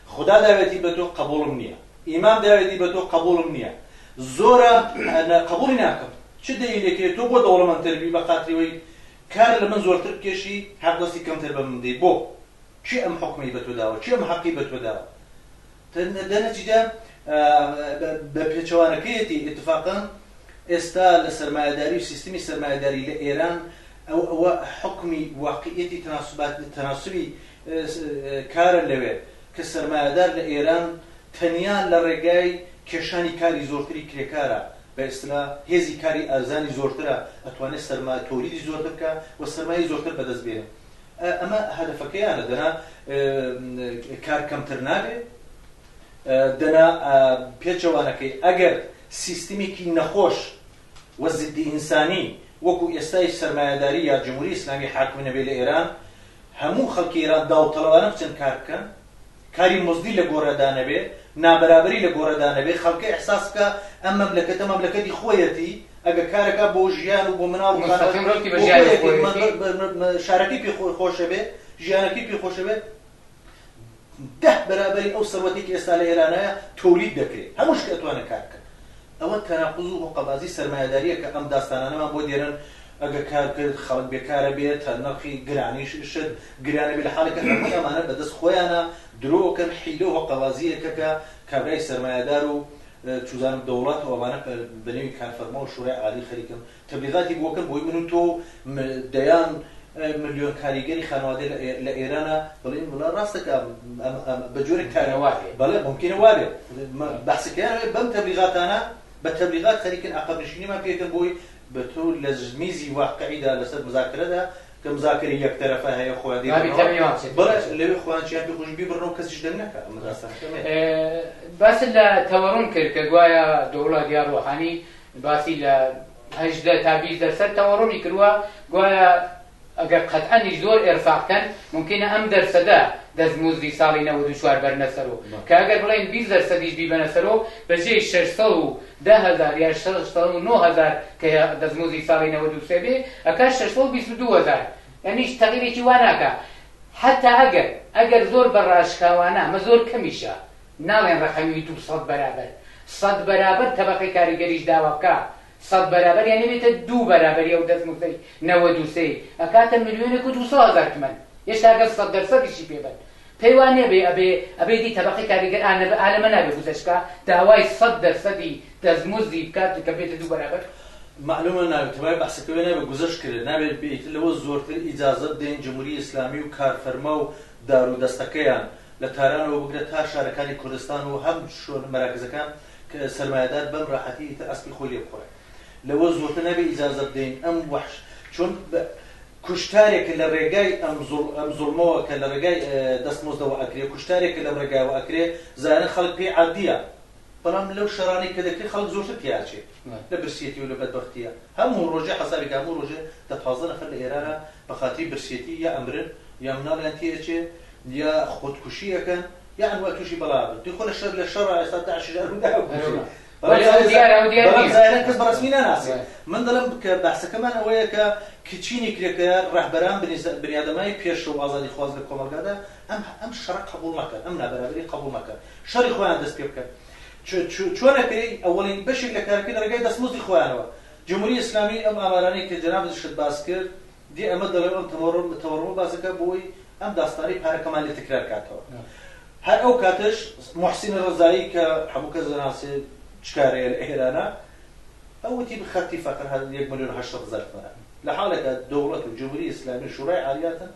خودا داوێتی بە تۆ قەبووڵم نییە. ئیمام داوێتی بە تۆ قەبووڵم نییە. زۆرە قەبووڵی ناکەم. چ دەلیلێک هەیە تۆ بۆ دەوڵەمەندتر بی بە خاتری وەی کار لە من زۆرتر بکێشی هەق دەستی کەمتر بە من بدەی بۆ؟ کێ ئەم حوکمەی بە تۆ داوە؟ کێ ئەم هەقی بە تۆ داوە؟ دە نەتیجە بە پێچەوانەکەیەتی ئیتفاقا ئێستا لە سەرمایەداری و سیستمی سەرمایەداری لە ئێران ئەو ئەوە حکمی واقعیەتی تەناسبات تەناسبی کارە لەوێ کە سەرمایەدار لە ئێران تەنیا لە ڕێگای کێشانی کاری زۆرتری کرێکارە، بە ئیستلا هێزی کاری ئەرزانی زۆرترە، ئەتوانێ سەرما تۆلیدی زۆرتر بکا و سەرمایەی زۆرتر بەدەست بێنێ. ئەمە هەدەفەکەیانە، دەنا کار کەمتر نابێ، دەنا پێچەوانەکەی ئەگەر سیستمێکی نەخۆش و زیددی ئینسانی وەکوو ئێستای سەرمایەداری یا جمهوری ئیسلامی حاکم نەبێ لە ئێران، هەموو خەڵکی ئێران داوطلبانە بچن کار بکەن، کاری مزدی لە گۆڕێدا نەبێ، نابەرابەری لە گۆڕێدا نەبێ، خەڵکە ئیحساس بکا ئەم مەملەکەتە مەملەکەتی خۆیەتی، ئەگەر کار ئەکا بۆ ژیان و بۆ مناڵ و خانەوە مستەقیم ڕەوتی بە ژیانی خۆیەتی، خۆیەتی. شارەکەی پێ خۆشە بێ، ژیانەکەی پێ خۆشە بێ. دە بەرابەری ئەو سەروەتەی کە ئێستا لە ئێرانایە تۆلید دەکرێ هەموو شتێ ئەتوانێ کار بکا ئەوە تەناقوز و هۆقەبازی سەرمایەداریە کە ئەم داستانانەمان بۆ دێرن ئەگەر کار کرد خەڵک بێکارە بێ تە نرخی گرانیش شت گرانە بێ لە حاڵێ کە هەمووی ئەمانە بە دەست خۆیانە درۆ کەن حیلە و هۆقەبازیە کە کە کابرای سەرمایەدار و چوزانم دەوڵەت و ئەمانە بە نێوی کارفەرما و شورای عالی خەریکن تەبلیغاتی بۆ کەن بۆی من و تۆ و دەیان ملیۆن کاریگەری خانوادە لە ئێرانە بڵێن وڵا ڕاستە کە بە جۆرە کارەوە بەڵێ ممکنە وابێ بەسەکەیان بەم تەبلیغاتانە بە تەبلیغات خەریکن عقبنشینیمان پێکەن بۆی بە تۆ لە میزی واقعیدا لەسەر مزاکرەدا کە مزاکری یەک تەرەفە هەیە خۆیان لەوێ خۆیان چیان پێ خۆش بیبڕنەوە کەسیش دەنگ نەکە باس لە تەوەڕم کرد کە گوایە دەوڵات یا ڕۆحانی باسی لە هەژدە تا بیست دەرسەد تەوەڕمی کرووە گوایە ئەگەر قەتعەنی زۆر ئێرفاق کەن ممکنە ئەم دەرسەدە دەستمزدی ساڵی نەوەد و چوار بەرنە سەرو کە ئەگەر بڵێن بیست دەرسەدیش بیبەنە سەرو بەجێی شەش سەد و دە هەزار یا شەش سەد و نۆ هەزار کە دەستمزدی ساڵی نەوەد و سێ بێ ئەکا شەش سەد و بیست و دوو هەزار یانیش تەغیرێکی وا ناکا حەتا ئەگەر ئەگەر زۆر بە ڕاشکاوانە ئەمە زۆر کەمیشە ناڵێن ڕەقەمی دوو سەد بەرابەر سەد بەرابەر تەبەقەی کاریگەریش داوا بکا سەد بەرابەر یانی بێتە دوو بەرابەری ئەو دەستنووسەی نەوەد و سێی ئەکاتە ملیۆنێک و دوو سەد هەزار تمەن هێشتا گەر سەد دەرسەدیشی پێ بەن پێی وا نێبێ ئەبێ ئەبێ دی تەبەقەی کاریگەر ئا نەبێ ئا لەمە نابێ گوزەشت کا داوای سەد دەرسەدی دەستمزدی بکات کە بێتە دوو بەرابەر مەعلومە نابێ تەبای بەحسەکە وێ نابێ گوزەشت کرێ نابێ بێ ئیتر لەوە زۆرتر ئیجازە بدەین جموری ئیسلامی و کارفەرما و دارو دەستەکەیان لە تارانەوە بگرە تا شارەکانی کوردستان و هەم شۆن مەراکزەکان کە سەرمایەدار بەم راحەتی ئیتر ئەسپی خۆی لێ بخوڕێ لەوە زۆرتر نابێ ئیجازە بدەین ئەم وەحش چۆن کوشتارێک کە لە رێگای ئەم زوڵ ئەم زوڵمەوە کە لە رێگای دەستمۆزدەوە ئەکرێ کوشتارێک کە لەم رێگایەوە ئەکرێ زایەنە خەڵک پێی عادیە بەڵام لەو شەرانەی کە دەکرێت خەڵک زۆرتر تێیا ئەچێ لە برسیەتی و لە بەدبەختیە هەموو ڕۆژێ حەسابی کە هەموو ڕۆژێ دە پازدە نەفەر لە ئێرانە بە خاتری برسیەتی یا ئەمرن یا مناڵیان تێ ئەچێ یا خۆدکوشی ئەکەن یا ئەنوا توشی بەڵا ئەبن دی خۆ لە شەر لە شەڕا ئێستا داعشیش ئەرمدا ئەکوژێ بەڵام ئەو دیارە ئەو دیار بەڵام نییە زاهیرەن کەس بە ڕەسمی ناناسێ من دەڵێم کە بەحسەکەمان ئەوەیە کە کچینی کرێکە ڕەهبەران بنیسە بنیادەمای پێشرو ئازادیخواز لە کۆمەڵگادا ئەم ئەم شەڕە قەبوڵ نەکەن ئەم نابەرابەریە قەبوڵ نەکەن شەڕی خۆیان دەست پێ بکەن چۆنە پێی ئەوەڵین بەشێک لە کارەکەی لە ڕێگای دەستمۆزی خۆیانەوە جمهوری اسلامی ئەم ئامارانەی کە جەنابشت باس کرد دی ئەمە دەڵێ ئەم تەوەڕم تەوەڕمە باسەکە بۆی ئەم داستانی پارەکەمان لێ تکرار کاتەوە هەر ئەو کاتش محسین ڕزایی کە هەموو کەس دەناسێ چکارەیە لە ئێرانە ئەوتی خەتی فەقەر هەر یەک ملیۆن هەشت هەزار تمەنە لە حالەکە دەوڵەت و جمهوری ئیسلامی شورای عالیاتن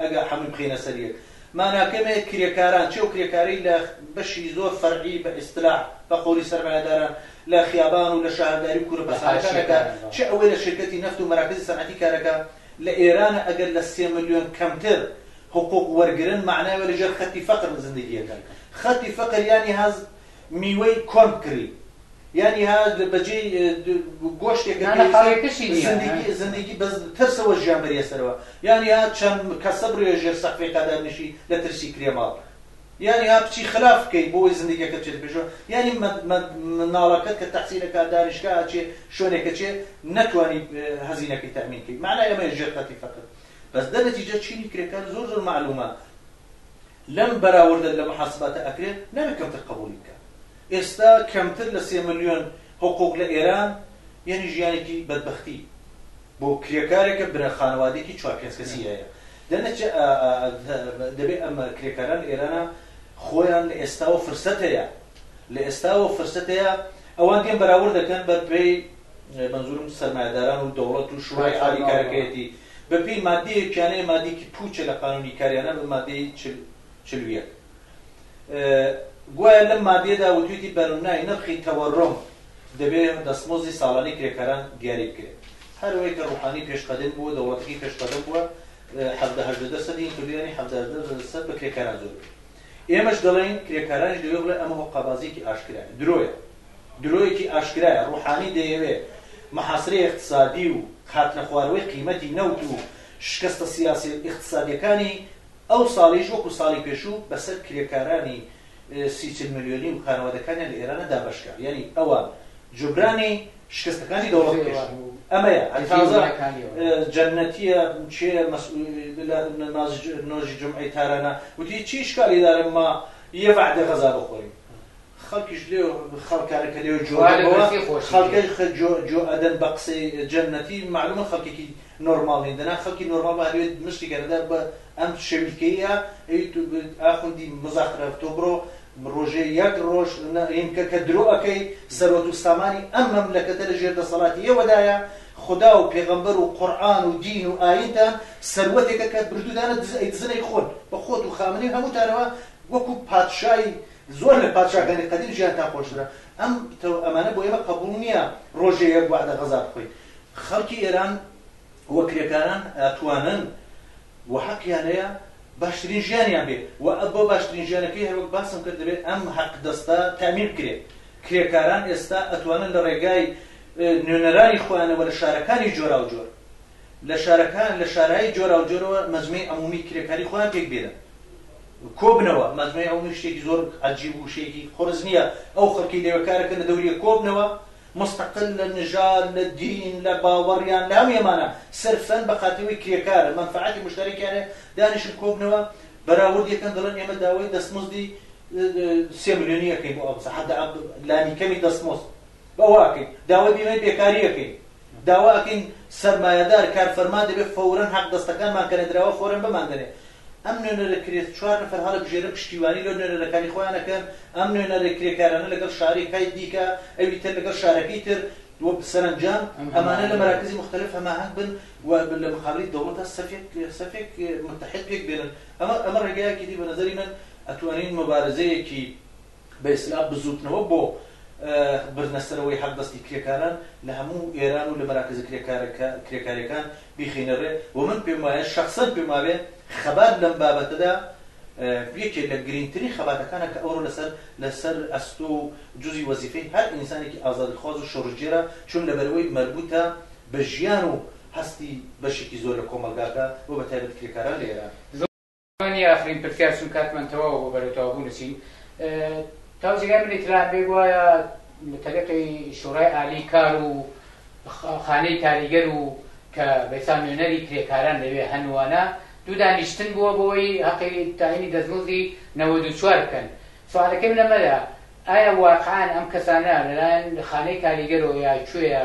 ئەگا حەمەی بخەینە سەر یەک ماناکەی مەیە کرێکاران چێ و کرێکاری لە بەشی زۆر فەرعی بە ئیستلاح بە قەولی سەرمایەداران لە خیابان و لە شاهرداری و کوورە پەستانەکان ئەکا چ ئەوەی لە شیرکەتی نەفت و مەراکزی سەنعەتی کار ئەکا لە ئێرانە ئەگەر لە سێ ملیۆن کەمتر حقوق وەرگرن مەعنای وە لە ژێر خەتی فەقر زندگی ئەکەن خەتی فەقر یانی هاز میوەی کۆرن کری یانی ها بەجی گۆشتێک نانە قاڵێکەشی نیە زندگی زندگی بەس ترسەوە ژیان بەریە سەرەوە یانی ها چەند کەسە بڕێ ژێر سەقفی قەدەر نشی لە ترسی کرێماڵ یانی ها بچی خلاف بکەی بۆی زندگیەکە چێت پێشۆ یانی مناڵەکەت کە تەحسیلەکە دانیشکە چێ شوێنێکە چێ نەتوانی هەزینەکەی تامین کرد معنای ئەمە ژێر قەتی فەقت بەس دەنەتیجە چینی کرێکار زۆر زۆر معلومە لەم بەراوردە لە محاسباتە ئەکرێت نابێت کەمتر قەبووڵی بکات. ئێستا کەمتر لە سێ ملیۆن حقوق لە ئێران یەنی ژیانێکی بەدبەختی بۆ کرێکارێکە برا خانەوادێکی چوار پێنج کەسی هەیە لە نەچە دەبێت ئەم کرێکاران ئێرانە خۆیان لە ئێستاوە فرسەت هەیە لە ئێستاوە فرسەت هەیە ئەوان دێن بەراورد دەکەن بە پێی مەنزورم سەرمایەداران و دەوڵەت و شورای عالی کارەکەیەتی بەپێی مادەیەک کیانەیە مادەیەکی پوچە لە قانونی کاریانە بە مادەی چل و یەک گوایە لەم مادەیەدا وتویتی بەرنای نرخی تەوەڕۆم دەبێت دەستمۆزی ساڵانی کرێکاران دیاری بکرێت هەروەی کە ڕوحانی پێشقەدەم بووە دەوڵەتەکەی پێشقەدەم بووە حەبدەهدە دەسەدی کردیانی حەبدەسە بە کرێکاران زۆر ئێمەش دەڵێن کرێکارانش دەوێ بڵێ ئەمە هۆقابازیکی ئاشکرا درۆیە درۆیەکی ئاشکرایە ڕوحانی دەیەوێت محاسرەی ئیقتسادی و هاتنەخوارەوەی قیمەتی نەوت و شکستە سیاسی و ئیقتسادیەکانی ئەو ساڵیش وەکو ساڵی پێشوو بەسەر کرێکارانی سی چل ملیۆنی و خانەوادەکانیان لە ئێرانە دابەشکا یانی ئەوان جوبرانی شکستەکانی دەوڵەت بکەن ئەمەیە هەر تازە جەنەتیە چێ نازی نۆژی جمعەی تارانە وتی چی شکالی دارم ما یە وعدە غەزا بخۆریم خەڵکیش لێو خەڵکانە کە لێو جوانەوە خەڵکە جۆ ئەدەن بە قسەی جەنەتی معلومە خەڵکێکی نۆرماڵین دەنا خەڵکی نۆرماڵ هەوێت مشتی گەرەدار بە ئەم شەویلکەیە ئاخوندی مزاخرەف تۆ بڕۆ ڕۆژێ یەک ڕۆژ ئینکە کە درۆەکەی سەرۆت و سامانی ئەم مەملەکەتە لە ژێر دەسەڵاتی ئێوەدایە خدا و پێغەمبەر و قورآن و دین و ئاینتان سەروەتێکە کە بردودانە دزنەی خۆن بە خۆت و خامنەی هەمووتانەوە وەکو پادشای زۆر لە پادشاکانی قەدیم ژیانتان خۆشترە ئەم تەو ئەمانە بۆ ئێمە قەبوڵ نییە ڕۆژێ یەک وەعدە غەزا بخۆین خەڵکی ئێران و کرێکاران ئەتوانن و حەقیان هەیە باشترین ژیانیان بێ و ئە بۆ باشترین ژیانەکەی هەروەک باسم کرد دەبێت ئەم حەق دەستە تامین بکرێت کرێکاران ئێستا ئەتوانن لە ڕێگای نوێنەرانی خۆیانەوە لە شارەکانی جۆرا و جۆر لە شارەکان لە شارایی جۆرا و جۆرەوە مەزمی عمومی کرێکاری خۆیان پێک بێنن کۆبنەوە مەزنەی عەومی شتێکی زۆر عەجیب و شێکی قورس نییە ئەو خەڵکی لەوێ کار دەکەن لە دەوریە کۆبنەوە مستقل لە نژاد لە دین لە باوەڕیان لە هەموو ئەمانە سەرفەن بە خاتەوەی کرێکارە مەنفعەتی مشتەرەکیانێ دانیشن کۆبنەوە بەراورد یەکەن دەڵێن ئێمە داوای دەستمزدی سێ ملیۆنی ئەەکەین بۆ ئەوسە حدا لانی کەمی دەستمۆست بەواکەین داوای بیمەی بێکاری ئەەکەین داواکەین سەرمایەدار کارفەرما دەبێت فورەن حەق دەستەکانمان کەنەدراوە فۆرن بماندنێ ئەم نوێنەرە کرێ چوار نەفەر هەڵەبژێرن پشتیوانی لۆ نوێنەرەکانی خۆیان ئەکەن، ئەم نوێنەرە کرێکارانە لەگەڵ شارەی کای دیکە، ئەوی تر لەگەڵ شارەکەی تر و سەرەنجام ئەمانە لە مەراکزی موختەلەف هەماهەنگ بن و لە مقابلی دەوڵەتا سەفێک سەفێک موتەحید پێک بێنن ئەمە ئەمە ڕێگایەکی دی بە نەزەری من ئەتوانین مۆبارزەیەکی بە ئیستلاح بزووتنەوە بۆ بردنە سەرەوەی حەقدەستی کرێکاران لە هەموو ئێران و لە مەراکزە کرێکاریەکان بیخەینە ڕێ و من پێم وایە شەخسەن پێم وابێ خەبات لەم بابەتەدا یەکێ لە گرنگترین خەباتەکانە کە ئەوڕۆ لەسەر لەسەر ئەستۆ و جزی وەزیفەی هەر ئینسانێکی ئازادیخواز و شۆڕشگێرە چون لەبەرەوەی مەربوتە بە ژیان و هەستی بەشێکی زۆر لە کۆمەڵگاکە و بە تایبەت کرێکاران لە ئێران. ئەمە نیە ئاخرین پرتیار چون کاتمان تەواوە بۆ بەرەو تەواو بوون چین تاو جێگای منی تران بێ گوایە تەلقی شورای عالی کار و خانەی کاریگەر و کە بەسان نوێنەری کرێکاران لەوێ هەنووانە دوو دانیشتن بووە بۆی هەقی تاینی دەستمزدی نەوە دو چوار بکەن سوالەکەم لەمەدا ئایا واقعان ئەم کەسانە لەلایەن خانەی کاریگەرەوە یا کوێە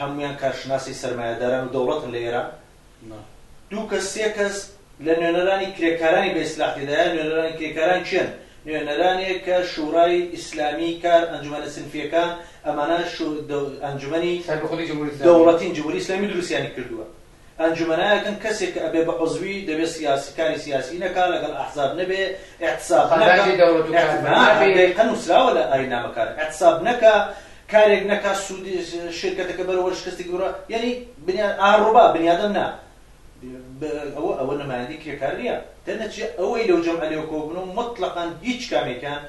هەموویان کارشناسی سەرمایەداران و دەوڵەتن لە ئێران. دوو کەس، سێ کەس لە نوێنەرانی کرێکارانی بە ئیسلاح تێدایە. نوێنەرانی کرێکاران کێن؟ نوێنەرانێک کە شوڕای ئیسلامیی کار، ئەنجومەنە سنفییەکان، ئەمانە ئەنجومەنی دەوڵەتین، جمهوری اسلامی، دروستیانی کردووە. ئەنجومەنایەکن کەسێک کە ئەبێ بە عضوی دەبێ سیاسی کاری سیاسی نەکا لەگەڵ ئەحزاب نەبێ ئیحتساب نەکا قەراجی دەوڵەت و کار بە نابێ. ئەی دەقیقەن نوسراوە لە ئاین نامەکان ئیحتساب نەکا کارێک نەکا سودی شیرکەتەکە بەرەوە شکستی ببرا یەنی بنیاد ئا ڕوبا بنیادەم نا بە ئەوە ئەوە نمایندی کرێکار نیە دەرنەچێ ئەوەی لەو جەمعە لێوە کۆببنەوە موتڵەقەن هیچ کامێکیان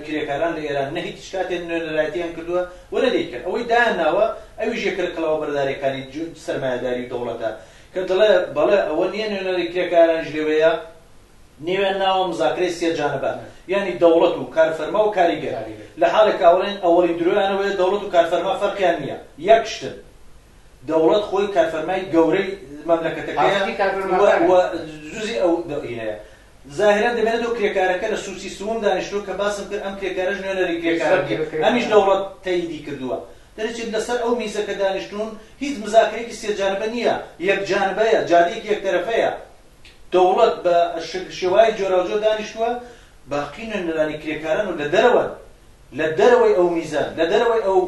کرێکاران لە ئێران نە هیچ کاتێ نوێنەرایەتیان کردووە و نە دەیکەن. ئەوەی دایان ناوە ئەویش یەکە لە کڵاوە بەردارییەکانی سەرمایەداری و دەوڵەتە کە دەڵێ بەڵێ ئەوە نییە نوێنەری کرێکارانیش لەوێیە، نێویان ناوە مزاکرەی سێ جانبە یانی دەوڵەت و کارفەرما و کاریگەر لە حاڵێک کە ئەوڵێن ئەوەڵی درۆیان ئەوەیە دەوڵەت و کارفەرما فەرقیان نییە یەک شتن. دەوڵەت خۆی کارفەرمای گەورەی مەملەکەتەکەیە و جزئی ئەو دەوینەیە. زاهران دەمێنێتەوە کرێکارەکە لە سوچی سووم دانیشتووە کە باسم کرد ئەم کرێکارەش نوێنەری کرێکارەکەی ئەمیش دەوڵەت تەییدی کردووە دەرەچێت لەسەر ئەو میزە کە دانیشتوون هیچ مزاکرەیەکی سێ جانبە نییە یەک جانبەیە جادەیەکی یەک تەرەفەیە دەوڵەت بە شێوای جۆراوجۆر دانیشتووە باقی نوێنەرانی کرێکاران و لە دەرەوەن لە دەرەوەی ئەو میزان، لە دەرەوەی ئەو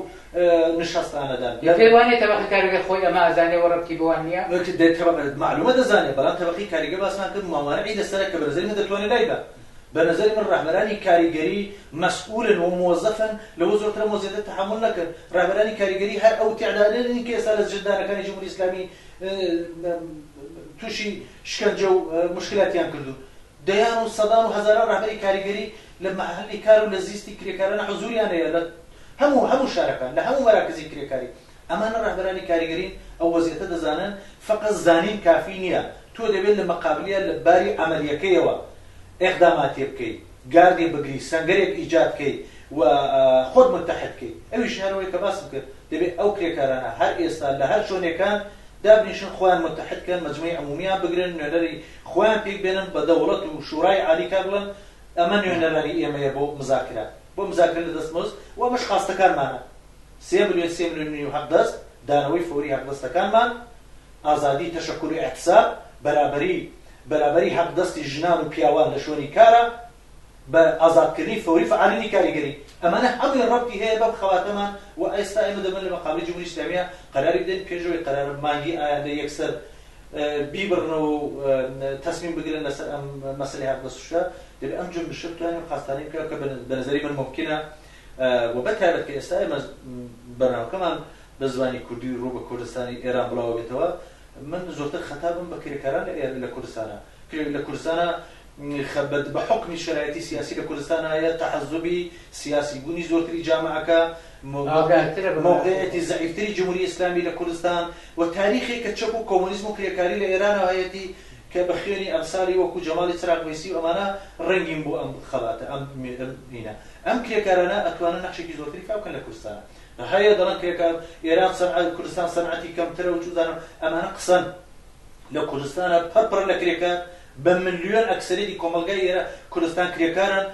نشەستانەدان. بە پێت وانیە تەبەقەی کارگەر خۆی ئەمە ئەزانێ و ڕەبتی بەوان نیە؟ مەعلومە دەزانێ، بەڵام تەبەقەی کاریگەر باسمان کرد موانعی لەسەرە کە بە نەزەری من دەتوانێ لایبا. بە نەزەری من ڕەهبەرانی کاریگەری مەسئولن و مۆزەفن لەوە زۆرترم و زیاتر تەحەمول نەکرد. ڕەهبەرانی کاریگەری هەر ئەو تێعدادە نین کە ئێستا لە زیندانەکانی جمهوری ئیسلامی توشی شکەنجە و موشکیلاتیان کردوون. دەیان و سەدان و هەزاران ڕەهبەری کاریگەری لە مەحەلی کار و لە زیستی کرێکارانە حزوریان هەیە لە هەموو هەموو شارەکان لە هەموو مەراکزی کرێکاری ئەمانە ڕەهبەرانی کاریگەرین ئەو وەزیەتە دەزانن فەقەت زانین کافی نیە تۆ دەبێت لە مەقابلیا لە باری عەمەلیەکەیەوە ئێقداماتێ بکەی گاردێ بگری سەنگەرێک ئیجاد کەی و خۆت متحد کەی ئەویش هەر ئەوەی کە باسم کرد دەبێت ئەو کرێکارانە هەر ئێستا لە هەر شۆنێکان دابنیشن خۆیان متحد کەن مەجمەی عمومیان بگرن نوێنەری خۆیان پێک بێنن بە دەوڵەت و شورای عالی کار بڵێن ئەمە نوێنەرانی ئێمەیە بۆ مزاکرە بۆ مزاکرە لە دەست مزد و ئەمەش خواستەکانمانە سێ ملیۆن سێ ملیۆن نیو حەق دەست دانەوەی فەوری حەق دەستەکانمان ئازادی تەشەکور و ئیحتساب بەرابەری بەرابەری حەق دەستی ژنان و پیاوان لە شوێنی کارا. بە ئازادکردنی فەوری فعالینی کاریگەری، ئەمانە هەمووی ڕەبتی هەیە بەم خەباتەمان و ئێستا ئێمە دەبێت لە مەقابەی جمهوری ئیسلامییە قەراری بدەین پێش ئەوەی قەرارە مانگی ئایندە یەکسەر بیبڕنەوە و تەسمیم بگرن لەسەر ئەم مەسەلەی هاتنە سوشکە دەبێت ئەم جنبشە بتوانین قازتانی بکە کە بە نەزەری من مومکینە و بە تایبەت کە ئێستا ئێمە بەرنامەکەمان بە زمانی کوردی ڕوو بە کوردستانی ئێران بڵاوەبێتەوە من زۆرتر خەتابم بە کرێکاران لە کوردستانە پێویست لە کوردستانا خەبەت بە حوکمی شەرایتی سیاسی لە کوردستان هەیە، تەعەزوبی سیاسی بوونی زۆرتری جامەعەکە، مەوقعیەتی زەعیفتری جمهوری ئیسلامی لە کوردستان و تاریخێک کە چەپ و کۆمۆنیزم و کرێکاری لە ئێرانا هەیەتی کە بە خوێنی ئەمسالی وەکوو جەماڵی چراغ وەیسی و ئەمانە ڕەنگین بوو ئەم خەباتە ئەم مینە ئەم کرێکارانە ئەتوانن نەخشێکی زۆرتری فاو بکەن لە کوردستانا هەیە دەڵێن کرێکار ئێران سەنعە کوردستان سەنعەتی کەمترە و چوزانم ئەمانە قسەن. لە کوردستانا پڕ پڕە لە کرێکار، بە ملیۆن ئەکسەریەتی کۆمەڵگای ئێرە کوردستان کرێکارن،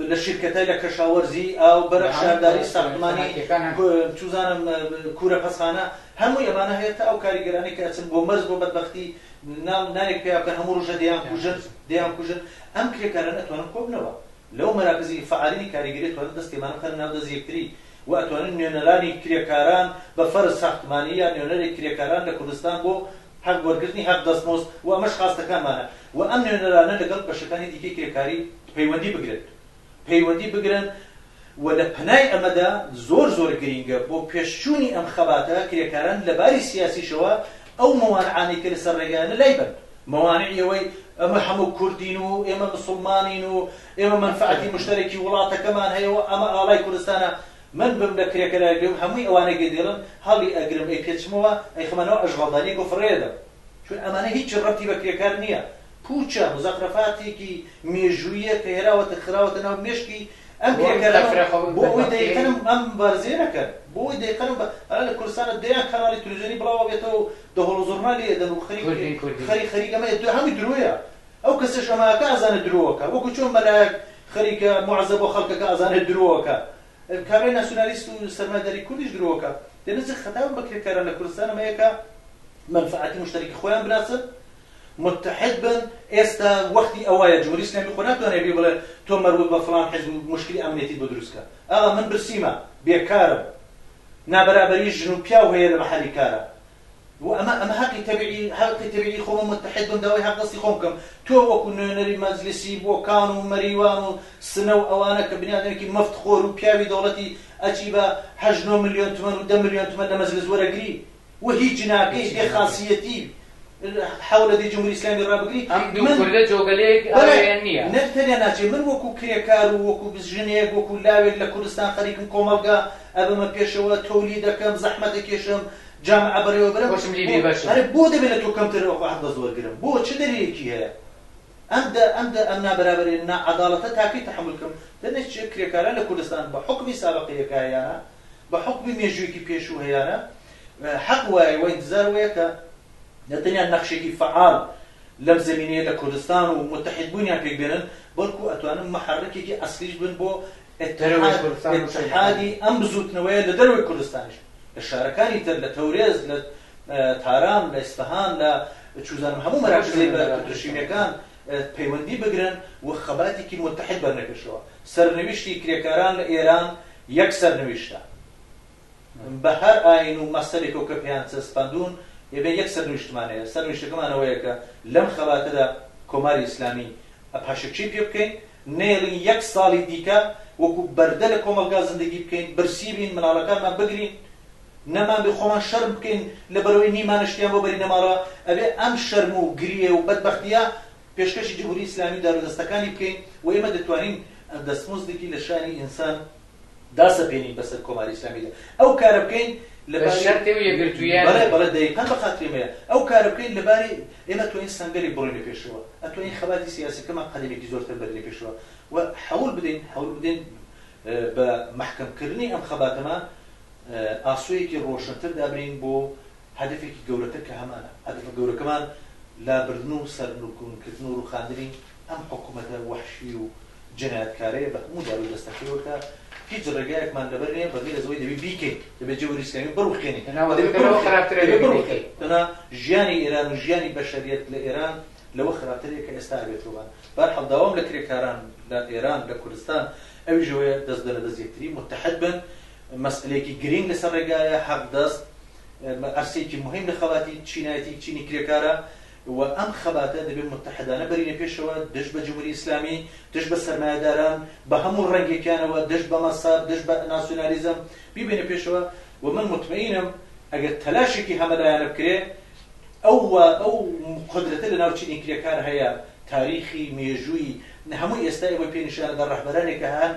لە شیرکەتە، لە کەشاوەرزی، ئاو، بەرق، شارداری، ساختمانی، چوزانم کورە پەسخانە، هەمووی ئەمانە هەیە تا ئەو کاریگەرانەی کە ئەچن بۆ مەرز بۆ بەدبەختی نان نانێک پەیا بکەن هەموو ڕوژە دەیان کوژن دەیان کوژن ئەم کرێکارانە ئەتوانن کۆبنەوە لەو مەراکزی فەعالیی کاریگەری خوێڕی دەست کێمانە بخەنە ناو دەست یەکتری و ئەتوانن نوێنەرانی کرێکاران بە فەرز ساختمانی یا نوێنەری کرێکاران لە کوردستان بۆ حەق وەرگرتنی حەق دەستمۆست و ئەمەش خواستەکانمانە و ئەم نوێنەرانە لەگەڵ بەشەکانی دیکەی کرێکاری پەیوەندی بگرن پەیوەندی بگرن و لە پەنای ئەمەدا زۆر زۆر گرینگە بۆ پێش چوونی ئەم خەباتە کرێکاران لە باری سیاسیشەوە ئەو موانعانەی کە لەسەر ڕێگایانە لایبەن، موانعی ئەوەی ئەمە هەموو کوردین و ئێمە مسوڵمانین و ئێمە مەنفەعەتی مشتەرەکی وڵاتەکەمان هەیە و ئەمە ئاڵای کوردستانە، من بم لە کرێکارایەک بم هەمووی ئەوانەی کە دێڵن هەڵیئەگرم ئەیپێچمەوە ئەیخەمە ناو ئەشغەڵدان یەک و فڕێ ئەدەم، چون ئەمانە هیچ ڕەبتی بە کرێکار نییە، پووچە، مزەخرەفاتێکی مێژووییە کە هێناوەتە خراوەتە ناو مێشکی ئەم پێکەرە بۆ ئەوەی دەیقەنم ئەم مبارزەیە نەکەن، بۆ ئەوەی دەیقەنم بە ئەڵێن لە کوردستانە دەیان کەناڵی تلویزیۆنی بڵاو ئەبێتەوە و دەهۆڵ و زوڕنا لێ ئەدەن و خەریک کوردین کوردین خەریک خەریک ئەمە ئێ هەمووی درۆیە ئەو کەسەش ئەمە ئەکا ئەزانێ درۆ ئەکا وەکوو چۆن مەلایەک خەریکە موعەزە بۆ خەڵک ئەکا ئەزانێ درۆ ئەکا کابرای ناسیونالیست و سەرمایەداری کوردیش درۆ ئەکا دەبێ جە خەتاو بە کرێکاران لە کوردستان ئەمە یەکە مەنفەعاتی موشتەرکی خۆیان بناسن متحد بن ئێستا وەختی ئەوەیە جمهوری ئیسلامی خۆ ناتوانێت بی بڵێ تۆ مەربوط بە فڵان حزب و موشکلی ئەمنیەتیت بۆ دروست کە ئاغا من برسیمە بێکارم نابەرابەری ژن و پیاو هەیە لە مەحەلی کارا و ئەمە ئەمە حەقی تەبیعی حەقی تەبیعی خۆمە متحد بم داوای حەق دەستی خۆم بکەم تۆ وەکو نوێنەری مەجلیسی بۆکان و مەریوان و سنە و ئەوانە کە بنیادنێکی مفت خۆر و پیاوی دەوڵەتی ئەچی بە هەشت نۆ ملیۆن تمەن و دە ملیۆن تمەن لە مەجلس وەرەگری و هیچ جناکەی بێ خاسیەتی حەولە دەی جمهوری ئیسلامی ڕابگری ئەم دوو من- کوردە جۆگەلەیەک بەڵێ، ئەوێن نییە نە تەنیا ناچێ من وەکو کرێکار و وەکو ژنێک وەکو لاوێک لە کوردستان خەریکم کۆمەڵگا ئەبەمە پێشەوە تۆلید دەکەم زەحمەت دەکێشم جامعە بەڕێوە برم خۆشم لێ بێبەشم. ئەرێ بۆ دەبێ لە تۆ کەمتر وەکو حەق بەس وەرگرم بۆ چ دەلیلێکی هەیە ئەم دە ئەم دە ئەم نابەرابەری ناعەداڵەتە تاکەی تەحەمول کەم دەنێ چ کرێکاران لە کوردستان بە حوکمی سابقە یەکایانە بە حوکمی مێژوویەکی پێشوو هەیانە حەق وایە و ئینتزار وەیە کە نە تەنیا نەخشێکی فەعال لەم زەمینەیە لە کوردستان و موتەحید بوونیان پێک بێنن بەڵکوو ئەتوانن موحەڕکێکی ئەسڵیش بن بۆ دەرەوەی کوردستان و شەهید ئەحمەد. ئیتحادی ئەم بزووتنەوەیە لە دەرەوەی کوردستانیش لە شارەکانی تر لە تەورێز لە تاران لە ئیسفەهان لە چوزانم هەموو هەموو مەراکزی شوێنێک بە دەبن ئینشاڵڵا. پەترشینەکان پەیوەندی بگرن و خەباتێکی موتەحید بەرنە پێشەوە سەرنویشتی کرێکاران لە ئێران یەک سەرنویشتە بە هەر ئاین و مەسەلێکەوە کە پێیان چەسپاندوون، ئێمە یەک سەرنویشتمان هەیە، سەرنویشتەکەمان ئەوەیە کە لەم خەباتەدا کۆماری ئیسلامی پاشەکشەی پێ بکەین، نەیەڵین یەک ساڵی دیکە وەکو بەردە لە کۆمەڵگا زندگی بکەین، برسی بین، منداڵەکانمان بگرین، نەمانبێ خۆمان شەرم بکەین لەبەرئەوەی نیمانە شتیان بۆ بەرینەماڵە، ئەبێ ئەم شەرم و گریێ و بەدبەختییە پێشکەشی جمهوری ئیسلامی دار و دەستەکانی بکەین و ئێمە دەتوانین دەستمزدێکی لە شانی ئینسان داسەپێنین بەسەر کۆماری ئیسلامیدا ئەو کارە بکەین لە بە شەرتێ و یەکگرتوویانە. بەڵێ بەڵێ دەیقەن بە خاتری ئێمەیە ئەو کارە بکەین لە باری ئێمە ئەتوانین سەنگەرێک بڕۆینە پێشەوە ئەتوانین خەباتی سیاسیەکەمان قەدەمێکی زۆرتر بەرینە پێشەوە و حەول بدەین حەول بدەین بە مەحکەم کردنی ئەم خەباتەمان ئاسۆیەکی ڕۆشنتر دابنێین بۆ هەدەفێکی گەورەتر کە هەمانە. هەدەفە گەورەکەمان لابردن و سەرنوکون کردن و روخاندنی ئەم حکومەتە وەحشی و جنایەتکارەیە بە هەموو دار و دەستەکەیەوە کە هیچ رێگایەکمان لەبەر نیە بەغیر از ئەوەی دەبی بیکەین، دەبێ جەوری ئیسلامی بڕوخێنین، دەبێ بڕوخێنین، دەنا ژیانی ئێران و ژیانی بەشەریەت لە ئێران لەوە خراپترە کە ئێستا ئەبێت رووبان. بەرحاڵ داوام لە کرێکاران لە ئێران لە کوردستان ئەویش ئەوەیە دەست بنە دەست یەکتری موتەحد بن، مەسئەلەیەکی گرینگ لەسەر ڕێگایە، حەقدەست بە عەرسەیەکی موهیم لە خەباتی چینایەتی چینی کرێکارە و ئەم خەباتە دەبێ موتەحدانە بەرینە پێشەوە دژ بە جموری ئیسلامی، دژ بە سەرمایەداران بە هەموو ڕەنگێکیانەوە، دژ بە مەسەب، دژ بە ناسیونالیزم بیبەینە پێشەوە و من موتمەئینم ئەگەر تەلاشێکی هەمەلایەنە بکرێ ئەو وا ئەو قودرەتە لە ناو چینی کرێکار هەیە تاریخی، مێژووی هەمووی ئێستا ئێوەی پێ نیشان ئەدا ڕەهبەرانێک هەن،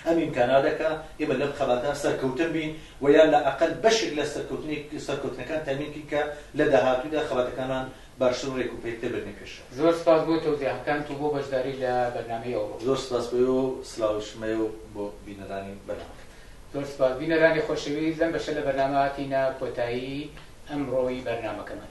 ئەم ئیمکانە دەکا ئێمە لەم خەباتە سەرکەوتن بین و یا لە ئەقەل بەشێک لە سەرکەوتنەکان تەمین کەین کە لە داهاتوودا خەباتەکانمان باشتر و رێکوپێکتر بردنە پێشەوە. زۆر سپاس بۆ تەوزیهەکانت و بۆ بەشداری لە بەرنامەی ئەوڕۆ. زۆر سپاس بۆ ئێوە و سڵاویشم هەیە و بۆ بینەرانی بەرنامەکەت. زۆر سپاس بینەرانی خۆشەویست، لەم بەشە لە بەرنامە هاتینە کۆتایی ئەمڕۆی بەرنامەکەمان.